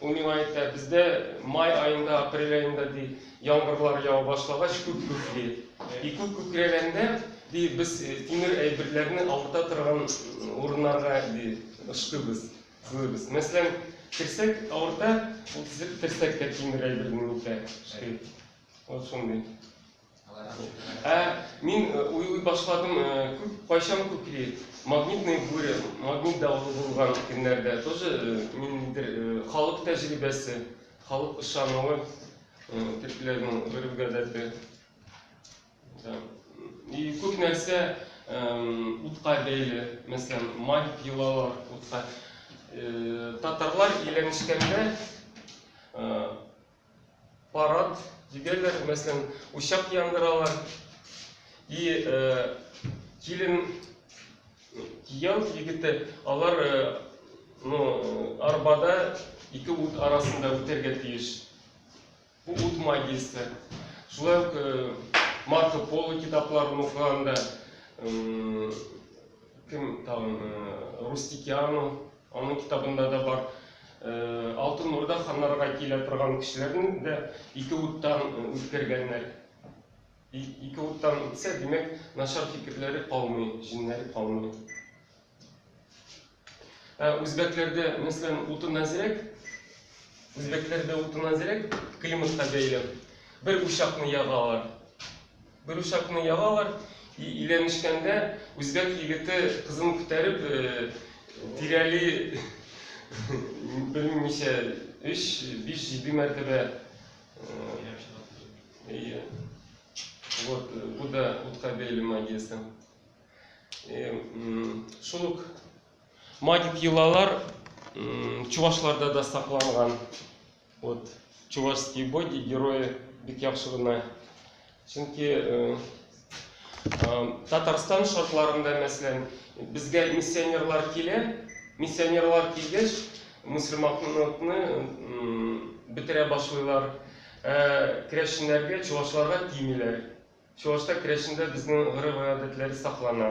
Ул миңа әйтә, бездә май аенда, апрель аенда, ди, яңгырлар ява башлагач, күк күкли. И күк күкрәгәндә, ди, без тимер әйберләрне авырта торган урыннарга, ди, ышкыйбыз, сылыйбыз. Мәсәлән, терсәк авырта, ул терсәккә тимер әйберне үтә, ышкый. Вот шундый. Ә мин э, уйлый башладым, э, күп кайчан күкли, магнитный буря, магнит давылы булган көннәрдә тоже э, ниндидер халык тәҗрибәсе, халык ышануы, төркиләрнең гореф-гадәте. И күп нәрсә утка бәйле, мәсәлән, магик йолалар утка. Татарлар иленешкәндә Парад дигәләр, мәсәлән, учак яндыралар. И килен, кияү егете, алар ну, арбада ике ут арасында үтәргә тиеш. Бу ут магиясе. Шулай ук Марко Поло китапларын укыганда, Кем тагын? Рустикиану, аның китабында да бар. Алтын Урда ханнарга килә торган кешеләрне дә ике уттан үткәргәннәр. Ике уттан үтсә, димәк, начар фикерләре калмый, җиннәре калмый. Ә үзбәкләрдә, мәсәлән, утын әзрәк, үзбәкләрдә утын әзрәк, климатка бәйле. Бер учакны ягалар. Беручакны ялалар, и иләнешкәндә үзбәк егете кызын күтәреп тирәли белмим ничә өч, биш, җиде мәртәбә Әйе. Вот, бу да утка бәйле магиясе. Шул ук магик йолалар чувашларда да сакланган. Вот чувашские боги герои бик яхшы гына чөнки э, татарстан шартларында мәсәлән безгә миссионерлар килә миссионерлар килгәч мөселманлыкны бетерә башлыйлар э, керәшеннәргә чувашларга тимиләр чувашта керәшендә безнең гореф гадәтләре саклана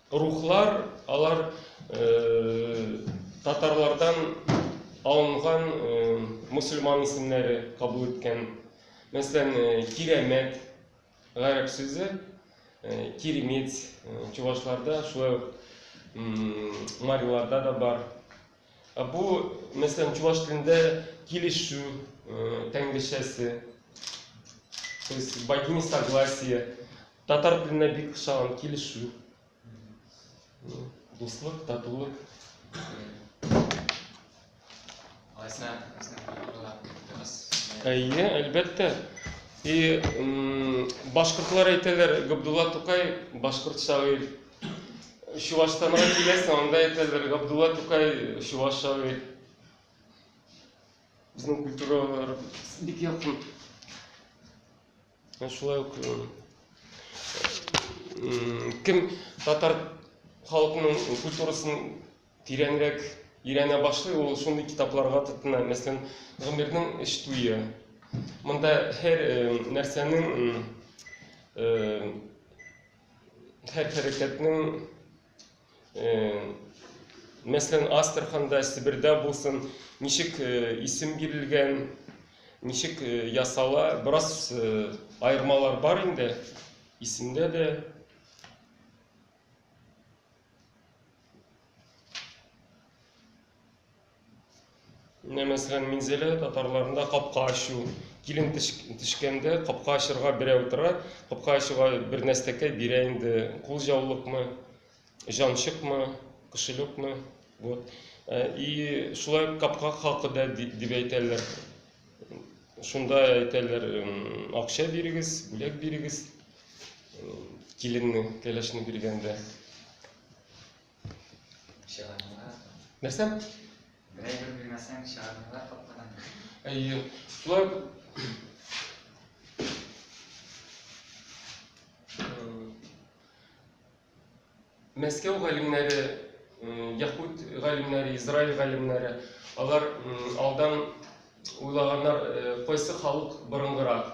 Рухлар, алар татарлардан алынган мусульман исемнәре кабул иткән. Мәсәлән, Кирәмәт гарәп сүзе, Киремет чувашларда, шулай ук мариларда да бар. Бу, мәсәлән, чуваш телендә килешү тәңгелчәсе, то есть богиня согласия. Татар теленә бик ошаган килешү. Дуслык, татулык. Алайса, Әйе, әлбәттә. И башкортлар әйтәләр, Габдулла Тукай башкорт шагыйрь. Чуваштанга киләсең, анда әйтәләр, Габдулла Тукай чуваш шагыйрь. Безнең культуралар бик якын. Ә шулай ук кем татар халкының культурасын тирәнрәк өйрәнә башлый, ул шундый китапларга тотына. Мәсәлән, Гомернең эш туе. Монда һәр нәрсәнең һәр хәрәкәтнең Мәсәлән, Астраханда, Себердә булсын, ничек исем бирелгән, ничек ясала, бераз аермалар бар инде. Исемдә дә Менә мәсәлән, Минзәлә татарларында капка ачу. Килен төшкәндә капка ачырга берәү тора, капка ачуга бер нәрсәкә бирә инде, кул җаулыкмы, җанчыкмы, кошелёкмы. Вот. Э, и шулай капка хакы да дип әйтәләр. Шунда әйтәләр, акча бирегез, бүләк бирегез. Э, киленне, кәләшне биргәндә. Чыгармалар. Нәрсә? Берәй бер белмәсәң, чыгармалар капкадан. Әйе. Шулай Мәскәү галимнәре, яхуд галимнәре, Израиль галимнәре, алар алдан уйлаганнар, кайсы халык борынгырак.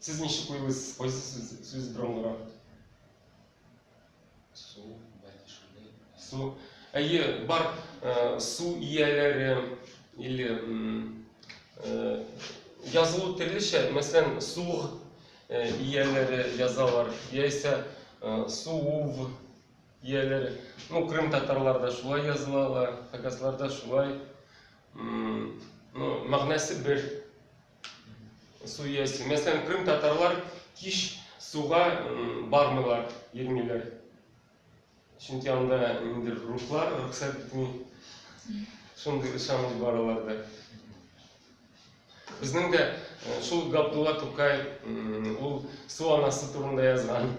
Сез ничек уйлыйсыз, кайсы сүз, сүз драмлырак? Су, бәлки шундый. Су. Әйе, бар ә, су ияләре или ә, язылу төрлечә, мәсәлән, суг ә, ияләре язалар, яисә ә, суув ияләре. Ну, Крым татарларда шулай язылалар, хакасларда шулай. Ну, мәгънәсе бер. су иясе. Мәсәлән, Крым татарлар кич суга бармыйлар, йөрмиләр. Чөнки анда инде рухлар рөхсәт итми. Шундый ышаныч бар аларда. Безнең дә э, шул Габдулла Тукай, ул су анасы турында язган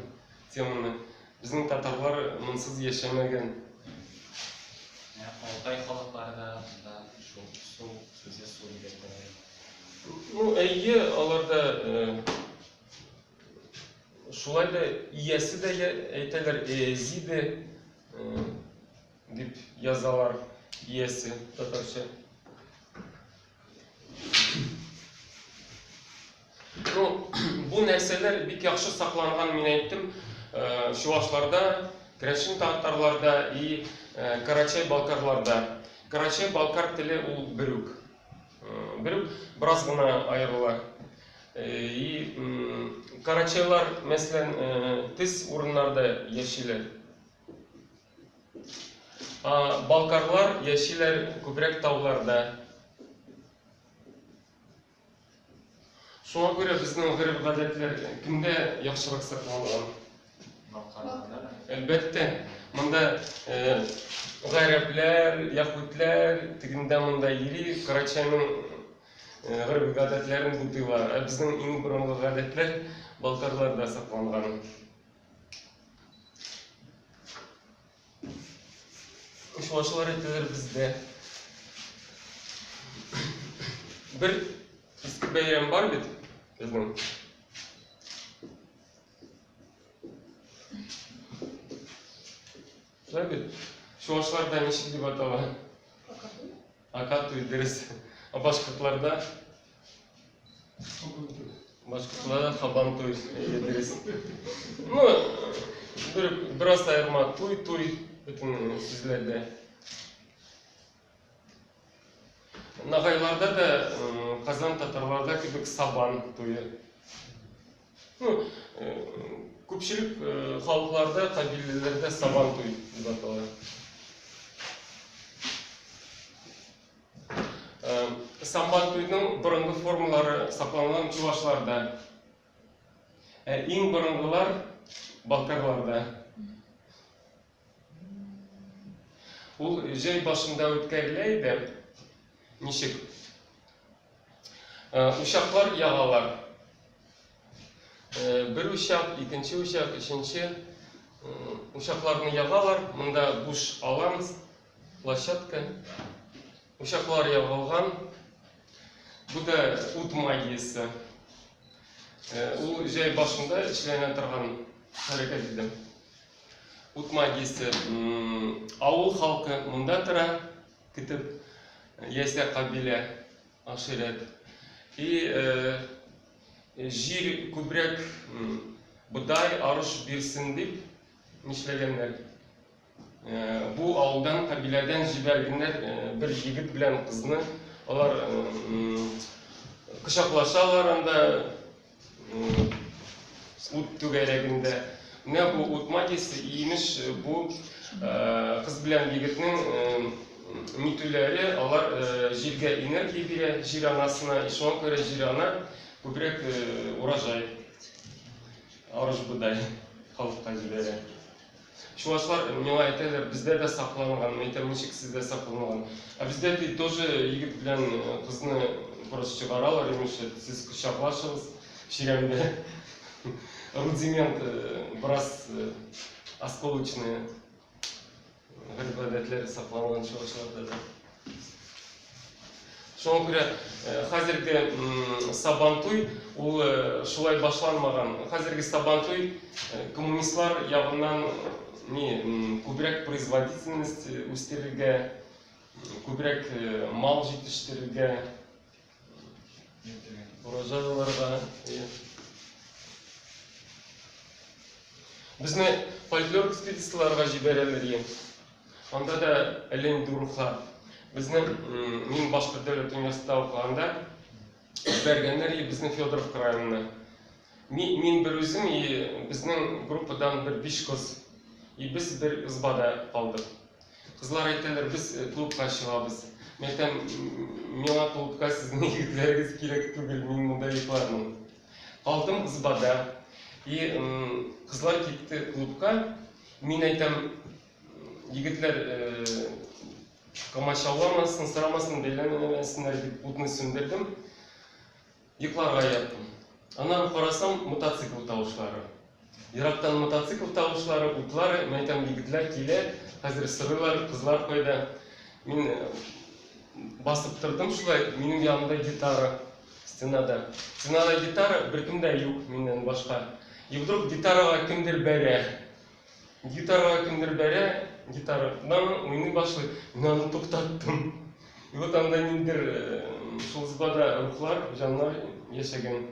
теманы. Безнең татарлар монсыз яшәмәгән. Алтай халыклары да монда шул су сүзе су дип әйтәләр. Ну, әйе, аларда шулай да иясе дә әйтәләр, эзиде дип язалар иясе татарча. Ну, бу нәрсәләр бик яхшы сакланган, мин әйттем, э, чувашларда, керәшен татарларда и э, карачай-балкарларда. Карачай-балкар теле ул бер үк. Э, бер үк, бераз гына аерыла. Э, и карачайлар, мәсәлән, э, тез урыннарда яшиләр. Балкарлар яшиләр күбрәк тауларда. Шуңа күрә безнең гореф-гадәтләр кемдә яхшырак сакланган? Балкарларда. Әлбәттә, монда гарәпләр, яһүдләр, тегендә монда йөри, Карачайның гореф-гадәтләрен бутыйлар. Ә безнең иң борынгы гадәтләр Балкарларда сакланган. Кошбашлар ителер бездә. Бер иске бәйрәм бар бит безнең. Шулай бит. Чуашларда ничек дип атала? Акатуй, дөрес. А башкортларда Башкортла хабан туй дөрес. Ну, бер бераз аерма туй туй бөтен сүзләрдә. Нагайларда да Казан татарларда кебек сабан туе. Ну, күпчелек халыкларда, кабилеләрдә сабан туй дип атала. Сабан туйның борынгы формалары сакланган чувашларда. Ә иң борынгылар балкарларда. Ул җәй башында үткәрелә иде. Ничек? Учаклар ягалар. Бер учак, икенче учак, өченче учакларны ягалар. Монда буш алан Площадка, учаклар ягылган. Бу да ут магиясе. Ул җәй башында эшләнә торган хәрәкәт иде. Ут магиясе. Авыл халкы монда тора, китеп яисә кабилә, аширәт. И җир күбрәк бодай, арыш бирсен дип нишләгәннәр. Бу авылдан кабиләдән җибәргеннәр бер җигет белән кызны. Алар кочаклашалар анда ут түгәрәгендә. Менә бу ут магиясе, имеш, бу кыз белән егетнең нитүләре, алар җиргә энергия бирә, җир анасына, и шуңа күрә җир ана күбрәк урожай, арыш-бодай халыкка җибәрә. Чувашлар миңа әйтәләр, бездә дә сакланган. Мин әйтәм, ничек сездә сакланган? Ә бездә ди, тоже егет белән э, кызны просто чыгаралар, имеше, сез кочаклашыгыз чирәмдә. Рудимент э, бераз э, осколочные гадәтләре сакланган чувашларда да. Шуңа күрә хәзерге Сабантуй ул шулай башланмаган. Хәзерге Сабантуй коммунистлар ягыннан ни күбрәк производительность үстерергә, күбрәк мал җитештерергә, Ураза аларга Безне фольклор экспедицияләргә җибәрәләр дигән. Анда да әле инде рухлар. Безне мин башка дәүләт университетында укыганда җибәргәннәр и безне Федоров районына. Мин, мин бер үзем и безнең группадан бер биш кыз. И без бер ызбада калдык. Кызлар әйтәләр, без э, клубка чыгабыз. Мин әйтәм, миңа клубка сезнең егетләрегез кирәк түгел, мин монда йоклармын. Калдым ызбада. И кызлар китте клубка. Мин әйтәм, егетләр э, комачауламасын, сорамасын, бәйләнмәсеннәр дип утны сүндердем. Йокларга яттым. Аннары карасам, мотоцикл тавышлары. Ерактан мотоцикл тавышлары, утлар, мин әйтәм, егетләр килә, хәзер сорыйлар, кызлар кайда. Мин басып тордым шулай, минем янымда гитара стенада. Стенада гитара, беркем дә юк миннән башка. И вдруг гитарага кемдер бәрә. Гитарага кемдер бәрә, гитара на уйный башлый, мин аны туктаттым. И вот анда ниндер шул сбада рухлар, җаннар яшәгән.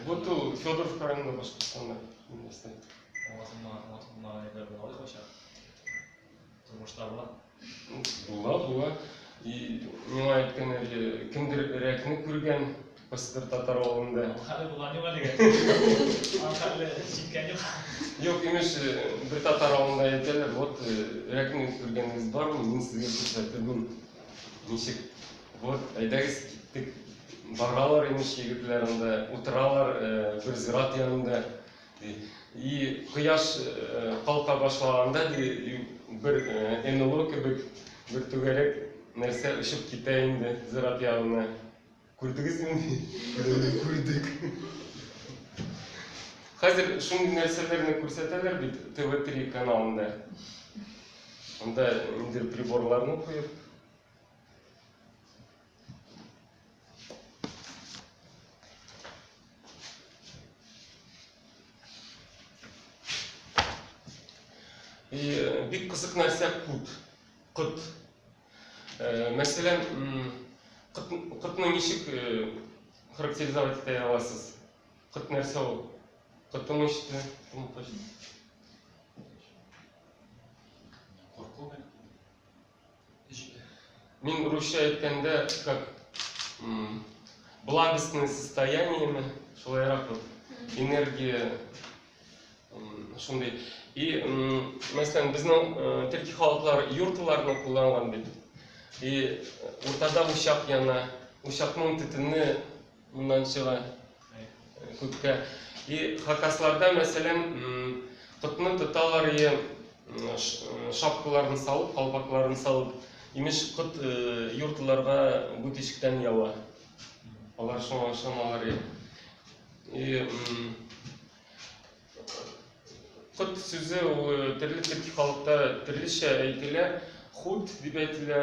Вот ул Федоров районында Башкортстанда инвестор. Тормышта була. Була, була. И миңа әйткән әле, кемдер рәкне күргән Пыстыр татар авылында. Хәле булган юк әлегә. Хәле җиткән юк. Юк, имеш, э, бер татар авылында әйтәләр, вот э, рәкне күргәнегез бармы? Мин сезгә күрсәтермен. Ничек? Вот, әйдәгез киттек. Баралар имеш егетләр анда, утыралар э, бер зират янында. И кояш калка башлаганда ди бер НЛО кебек бер түгәрәк нәрсә очып китә инде зират ягына. Күрдегезме? Күрдек. Хәзер шундый нәрсәләрне күрсәтәләр бит ТВ3 каналында. Анда инде приборларны куеп Э, бик кызык нәрсә кут кыт э, мәсәлән кытны ничек э, характеризовать итә аласыз кыт нәрсә ул кытым иште Мин русча әйткәндә, как благостное состояние ме, шулайрак вот, энергия, шундый. И, мәсәлән, безнең э, төрки халыклар юртыларны кулланган бит. И уртада учак яна, учакның төтене Уннан чыга күккә. И хакасларда, мәсәлән, котны тоталар и шапкаларын салып, калпакларын салып, имеш кот юртларга бу тишектән ява. Алар шуңа ышаналар и. И кот сүзе төрле төрки халыкта төрлечә әйтелә. Хут дип әйтелә.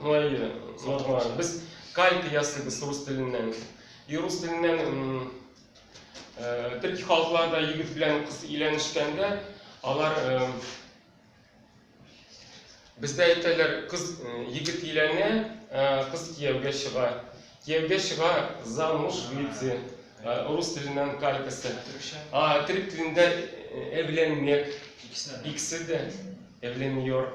Ну, и нормально. Без калька ясыйбыз рус теленнән. И рус теленнән төрки халыкларда егет белән кыз өйләнешкәндә, алар бездә әйтәләр, кыз егет өйләнә, кыз кияүгә чыга. Кияүгә чыга замуж выйти. Рус теленнән калькасы. А төрек телендә эвленмек. Икесе дә эвленмек.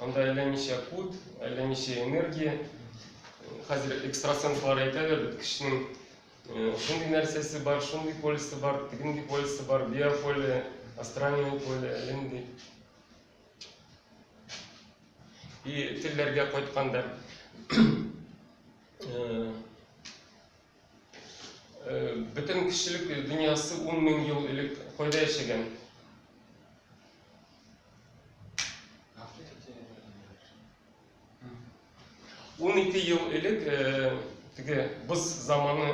Анда әллә ничә кут, әллә ничә энергия. Хәзер экстрасенслар әйтәләр, бит кешенең шундый нәрсәсе бар, шундый полисы бар, тегенди полисы бар, биополе, астральное поле, әллә нинди. И телләргә кайтканда, Бөтен кешелек дөньясы 10 мең ел элек кайда яшәгән? Ун ике ел элек теге боз заманы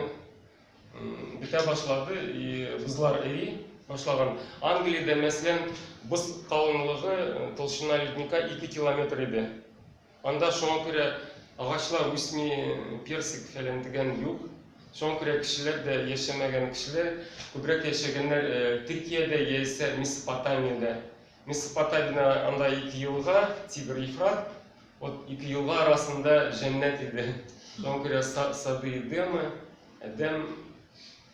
бетә башлады, и бозлар эри башлаган. Англиядә, мәсәлән, боз калынлыгы толщина ледника 2 километр иде. Анда шуңа күрә агачлар үсми, персик фәлән дигән юк. Шуңа күрә кешеләр дә яшәмәгән. Кешеләр күбрәк яшәгәннәр Төркиядә яисә Месопотамиядә. Месопотамиядә анда ике елга, Тибр, Ефрат. Вот ике елга арасында җәннәт иде. Шуңа күрә Сады Эдемы, Әдәм.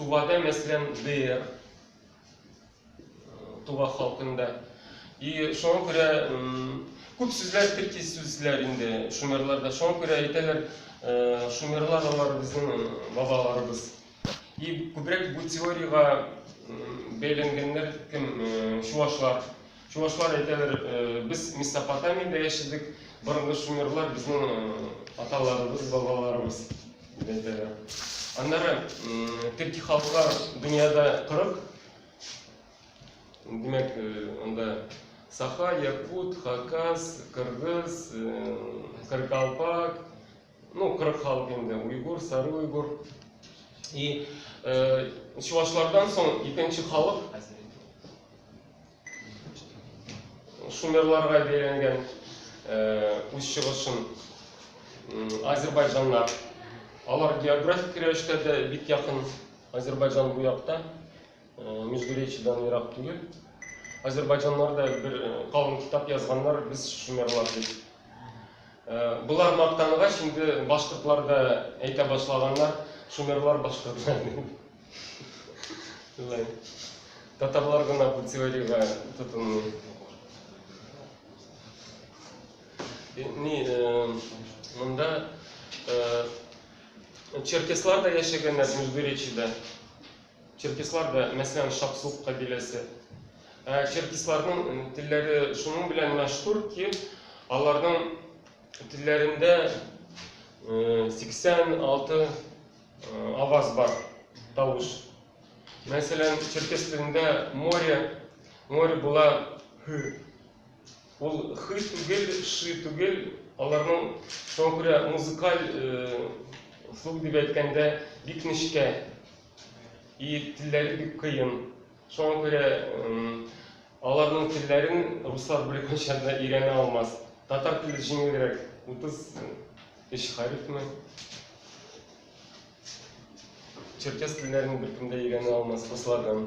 Тувада, мәсәлән, ДР, Тува халкында. И шуңа күрә күп сүзләр төрки сүзләр инде шумерларда. Шуңа күрә әйтәләр, шумерлар алар безнең бабаларыбыз. И күбрәк бу теориягә бәйләнгәннәр кем? Чувашлар. Чувашлар әйтәләр, без Месопотамиядә яшәдек, борынгы шумерлар безнең аталарыбыз, бабаларыбыз дип әйтәләр. Аннары төрки халыклар дөньяда 40 димәк, анда саха, якут, хакас, кыргыз, каракалпак, Ну, кырык халык инде, уйгур, сары уйгур. И э, чувашлардан соң икенче халык шумерларга бәйләнгән э, үз чыгышын азербайҗаннар. Алар географик рәвештә дә бик якын Азербайҗан бу якта. Междуречидан ерак түгел. Азербайҗаннар да бер э, калын китап язганнар, без шумерлар дип. Э, Болар мактангач, инде башкортлар да әйтә башлаганнар, шумерлар башкортлар дип. Шулай. Татарлар гына бу теориягә тотынмый. Э, Ни, э, монда э, черкеслар да яшәгәннәр Междуречида. Черкеслар да, мәсәлән, Шапсук кабиләсе. Ә черкесларның телләре шуның белән мәшһүр ки, аларның телләрендә 86 аваз бар, тавыш. Мәсәлән, черкес телендә море, море була һү. Ул хы түгел, ши түгел, аларның шуңа күрә музыкаль слух дип әйткәндә бик нечкә и телләре бик кыен. Шуңа күрә аларның телләрен руслар белән кайчанда өйрәнә алмас. Татар теле җиңелрәк, 33 хәрефме? Черкес телләрен беркем дә өйрәнә алмас руслардан.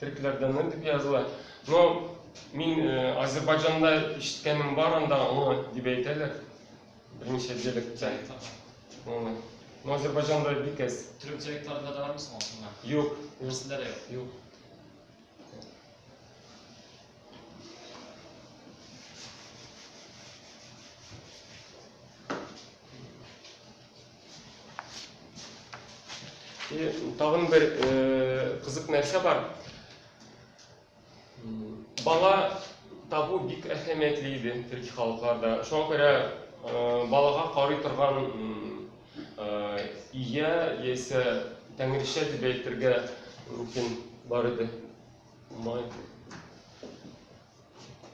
Төркләрдәнме дип языла. Но мин э, Азербайҗанда ишеткәнем бар анда аңа дип әйтәләр. Берничә диалекттә. Аңа. Но Азербайҗанда бик әз. Төрек диалектларында да бармы соң аңа? Юк. Берсендә дә юк. Юк. И тагын бер э, кызык нәрсә бар. Бала табу бик әһәмиятле иде төрки халыкларда. Шуңа күрә э, балага карый торган э, ия яисә тәңричә дип әйтергә мөмкин бар иде. Май.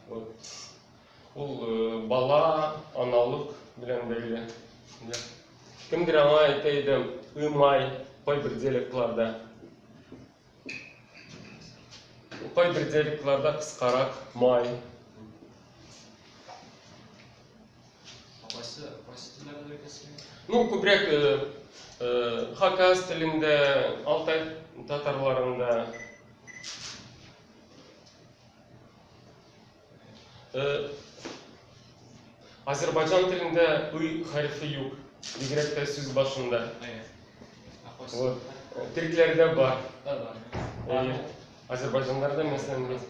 Вот. Ул бала, аналык белән бәйле. Кемдер аңа әйтә иде, ымай, кайбер диалектларда. Кайбер диалектларда кыскарак, май. Кайсы кайсы телләрдә икән? Ну, күбрәк хакас телендә, алтай татарларында Азербайджан телендә уй хәрефе юк, бигрәк тә сүз башында. Вот. Төркләрдә бар. Әйе. Азербайджаннарда мәсәлән бар.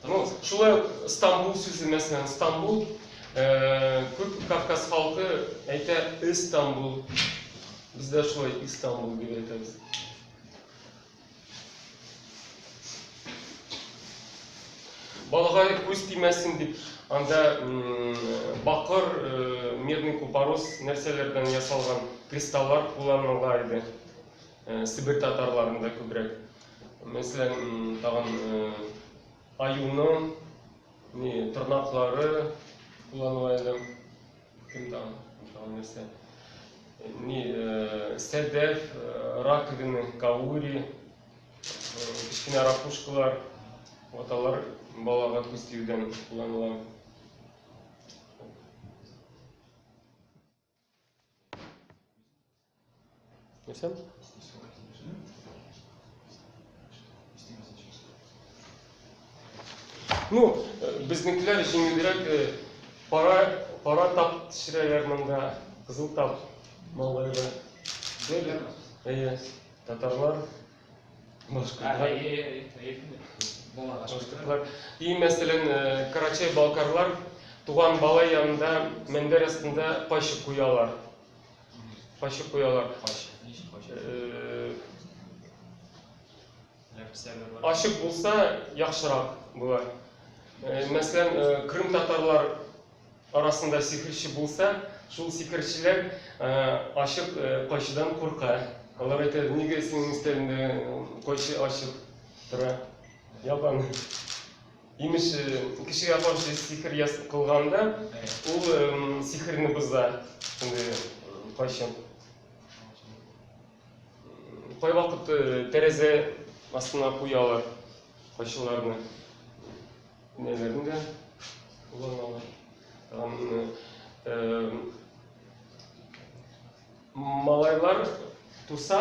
Ну, шулай Стамбул сүзе мәсәлән, Стамбул күп Кавказ халкы әйтә Истанбул. Бездә шулай Истанбул дип әйтәбез. Балага күз тимәсен дип, анда бакыр, э, медный купорос нәрсәләрдән ясалган кристаллар кулланыла иде. Э, Сибир татарларында күбрәк. Мәсәлән, тагын э, аюның тырнаклары кулланыла иде. Кем там? Тагын нәрсә? Ни, э, сәдәф, э, раковина, каури, э, кечкенә ракушкалар, вот алар балага күз тиюдән кулланыла. Нәрсә? Ну, безнекеләр җиңелрәк пара пара тап төшерәләр монда, кызыл тап малайда. Беләм. Әйе, татарлар башкортлар. Башкортлар. И мәсәлән, Карачай балкарлар туган бала янында мендәр астында кайчы куялар. Качып куялар. Ачык булса, яхшырак була. Мәсәлән, Крым татарлар арасында сихерче булса, шул сихерчеләр ачык кайчыдан курка. Алар әйтә, нигә синең өстәлендә кайчы ачык тора? Ябан. Имеш, кешегә каршы сихер яс кылганда, ул сихерне боза. Инде кайчан? Кайвакыт тәрәзә астына куялар кайшыларны. Нәләрне дә кулланалар. Малайлар туса,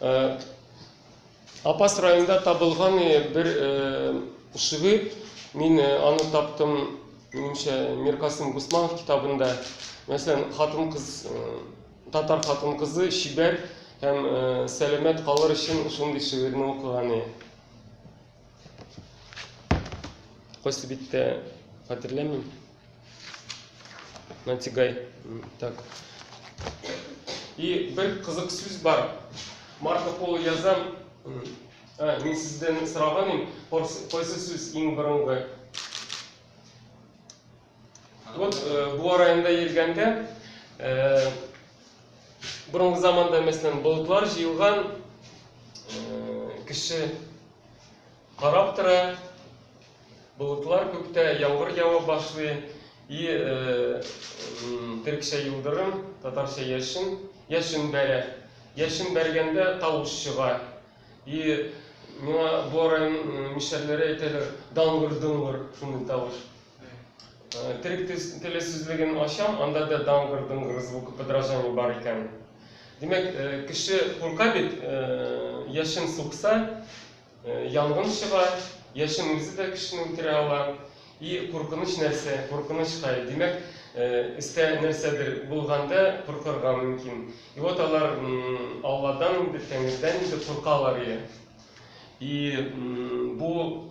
Э, Апас районында табылган э, бер э, шигырь, мин аны таптым, минемчә, Миркасым Гусманов китабында. Мәсәлән, хатын-кыз, татар хатын-кызы чибәр һәм сәламәт калыр өчен шундый шигырьне укыган иде. Кайсы биттә хәтерләмим. Нантигай. Так. И бер кызык сүз бар. Марко Поло язам. Ә, мин сездән сораган идем, кайсы сүз иң борынгы? Вот бу районда йөргәндә, борынгы заманда, мәсәлән, болытлар җыелган кеше карап тора, болытлар күктә, яңгыр ява башлый, и төркчә юлдырым, татарча яшен, яшен бәрә. Яшен бәргәндә тавыш чыга. И миңа бу район мишәрләре әйтәләр, даңгыр-доңгыр шундый тавыш. Төрек теле сүзлеген ачам, анда да дангыр-дунгыр звукы подражание бар икән. Димәк, э, кеше курка бит, э, яшен сукса, э, янгын чыга, яшен үзе дә кешене үтерә ала. И куркыныч нәрсә, куркыныч хәл. Димәк, өстә нәрсәдер булганда куркырга мөмкин. И вот алар Алладан инде, Тәңредән инде куркалар. И бу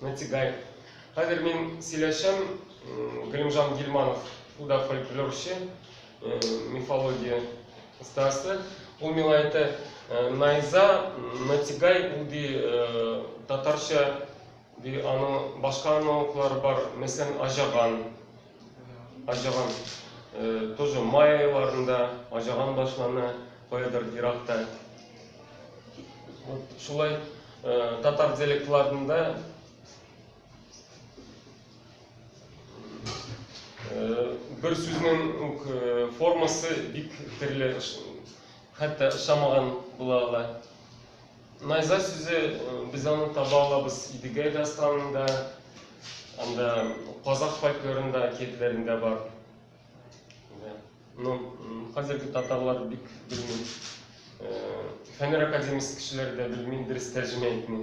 Нәтигай. Хәзер мин сөйләшәм, Галимжан Гилманов, ул да фольклорчы, мифология остасы. Ул миңа әйтә, Найза, Нәтигай, ул ди татарча, ди, аның башка аналоглары бар, мәсәлән, Аҗаган. Аҗаган тоже май айларында аҗаган башлана каядыр еракта. Вот шулай татар диалектларында бер сүзнең үк формасы бик төрле, хәтта ошамаган була ала. Найза сүзе без аны таба алабыз Идегәй дастанында, анда казах фольклорында, әкиятләрендә бар. Ну, хәзерге татарлар бик белми. Фәнер академиясе кешеләре дә белми, дөрес тәрҗемә итми.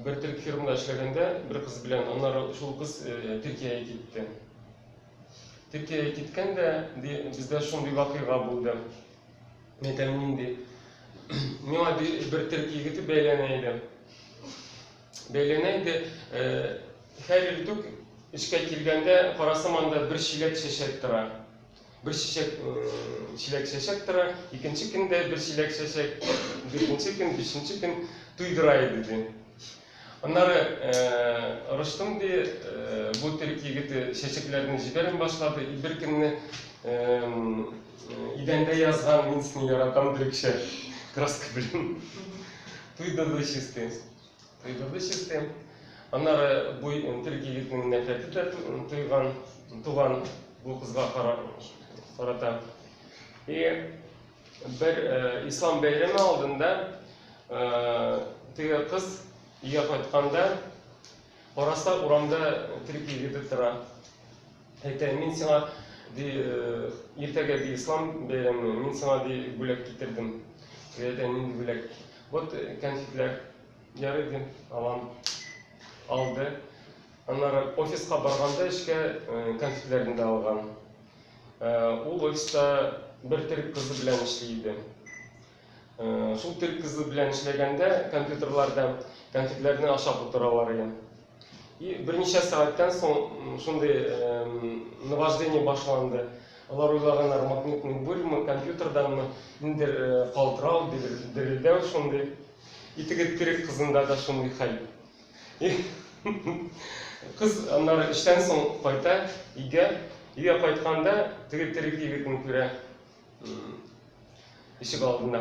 Бер төрек фирмада эшләгәндә бер кыз белән, аннары шул кыз Төркиягә китте. Төркиягә киткәндә ди, бездә шундый вакыйга булды. Әйтәм нинди. Миңа ди, бер төрек егете бәйләнә иде. Бәйләнә иде. Һәр иртүк эшкә килгәндә, карасам анда бер чиләк чәчәк тора. Бер чәчәк чиләк чәчәк тора, икенче көн дә бер чиләк чәчәк, дүртенче көн, бишенче көн туйдыра иде, ди. Аннары Ростом, ди, бу төрек егете чәчәкләрне җибәрми башлады, и бер көнне идәндә язган мин сине яратам төрекчә краска белән туйдырды чистый. Кыйгырды чиртем. Аннары бу терек егетнең нәфрәте тә туйган, туган бу кызга карата. И бер ислам бәйрәме алдында теге кыз өйгә кайтканда караса урамда терек егете тора. Әйтә, мин сиңа ди, иртәгә ди ислам бәйрәме, мин сиңа ди бүләк китердем. Әйтә, нинди бүләк? Вот кәнфитләр ярый дим, алам. Алды. Аннары офиска барганда эшкә кәнфитләрне дә алган. Ул офиста бер төрек кызы белән эшли иде. Шул төрек кызы белән эшләгәндә компьютерларда кәнфитләрне ашап утыралар иде. И берничә сәгатьтән соң шундый наваждение башланды. Алар уйлаганнар, магнитный бурьмы, компьютерданмы, ниндидер калтырау, дерелдәү шундый. И теге тирек кызында да шундый хәл. И кыз аннары эштән соң кайта өйгә. Өйгә кайтканда, теге тирек егетне күрә. Ишек алдында.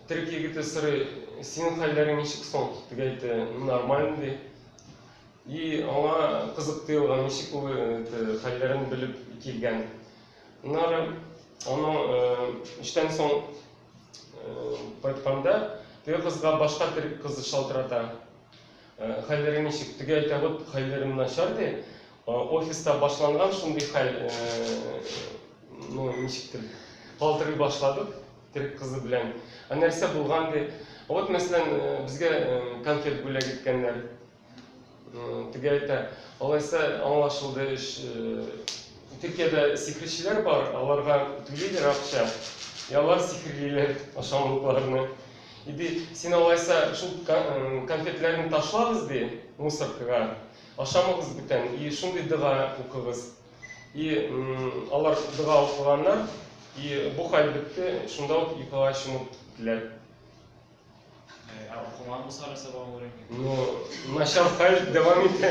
Төрек егете сорый, синең хәлләрең ничек соң? Тегәйте, нормально ди. И аңа кызык тоелган, ничек ул хәлләрен белеп килгән. Аннары аның эштән соң кайтканда теге кызга башка төрек кызы шалтырата. Хәлләрең ничек? Теге әйтә вот, хәлләрем начар, ди. Офиста башланган шундый хәл, ну, ничектер, калтырый башладык Терек кызы белән. Ә нәрсә булган, ди. Вот, мәсәлән, безгә конфет бүләк иткәннәр. Теге әйтә, алайса аңлашылды эш. Төркиядә сихерчеләр бар, аларга түлиләр акча, и алар сихерлиләр ашамлыкларны. И ди, син алайса шул конфетларны ташлагыз ди, мусоркага, ашамагыз бүтән, и шундый дога укыгыз. И алар дога укыганнар, и бу хәл бетте, шунда ук йокыга чумып киттеләр. Ә укыман булса нәрсә булган булыр икән? Ну, начар хәл дәвам итә.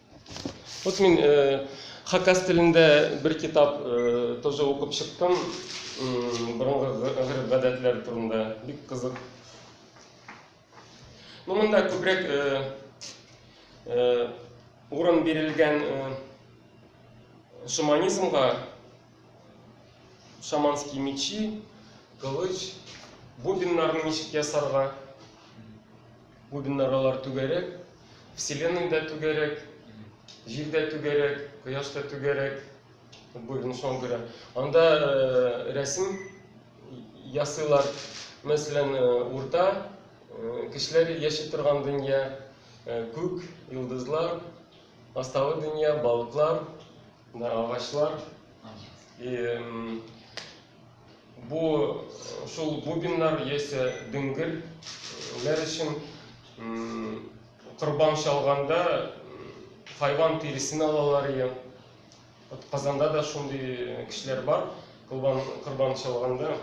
Вот мин э, хакас телендә бер китап э, тоже укып чыктым. Борынгы гырып-гадәтләр турында. Бик кызык. Ну, монда күбрәк э, э, урын бирелгән э, шуманизмга Шаманский мечи, кылыч, бубеннарны ничек ясарга? Бубеннар алар түгәрәк, вселенная да түгәрәк, җир дә түгәрәк, кояш та түгәрәк. Бубен шуңа күрә. Анда э, рәсем ясыйлар. Мәсәлән, э, урта э, кешеләр яши торган дөнья, э, күк, йолдызлар, астагы дөнья, балыклар, Да, агачлар. И бу шул бубеннар яисә диңгелләр өчен корбан чалганда хайван тиресен алалар ия. Вот Казанда да шундый кешеләр бар. Корбан корбан чалганда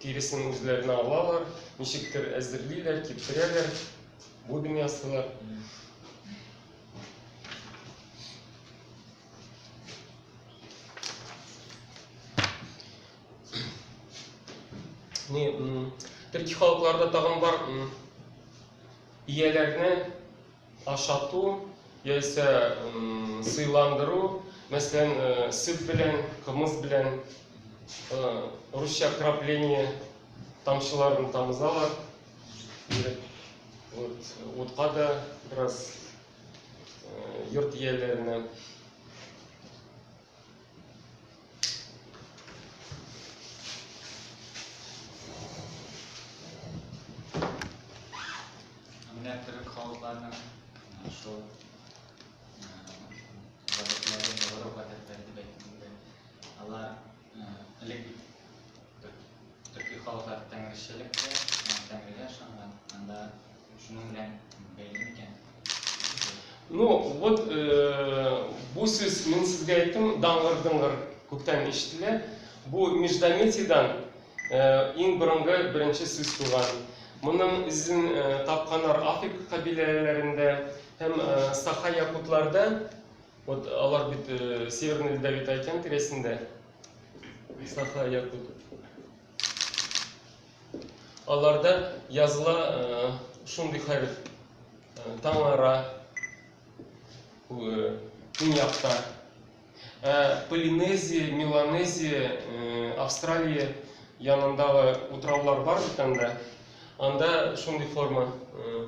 тиресен үзләренә алалар, ничектер әзерлиләр, киптерәләр, бубен ясыйлар. не төрки халыкларда тагын бар ияләрне ашату яисә сыйландыру мәсәлән э, сөт белән кымыз белән э, русча крапление тамчыларын тамызалар Вот, утка да бераз э, йорт ияләренә Элек төрки халыклар тәңречелек тә, тәңрегә ышанган. Анда шуның белән бәйле микән? Ну, вот э, бу сүз мин сезгә әйттем, даңгыр-дыңгыр күптән ишетелә. Бу междометиедан э, иң борынгы беренче сүз туган. Моның эзен э, тапканнар Африка кабиләләрендә һәм э, Саха якутларда Вот алар бит э, Северный Ледовитый океан тирәсендә. Саха Якут. Аларда языла э, шундый хәреф. Э, Таңара, э, Көньякта, Ә Полинезия, Меланезия, э, Австралия янындагы утраулар бар бит анда. Анда шундый форма э,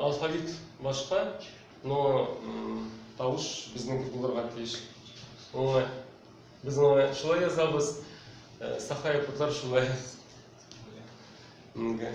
Алфавит башка, но тавыш безнеке булырга тиеш. Аңа без аңа шулай язабыз, э, саха якутлар шулай. Инде.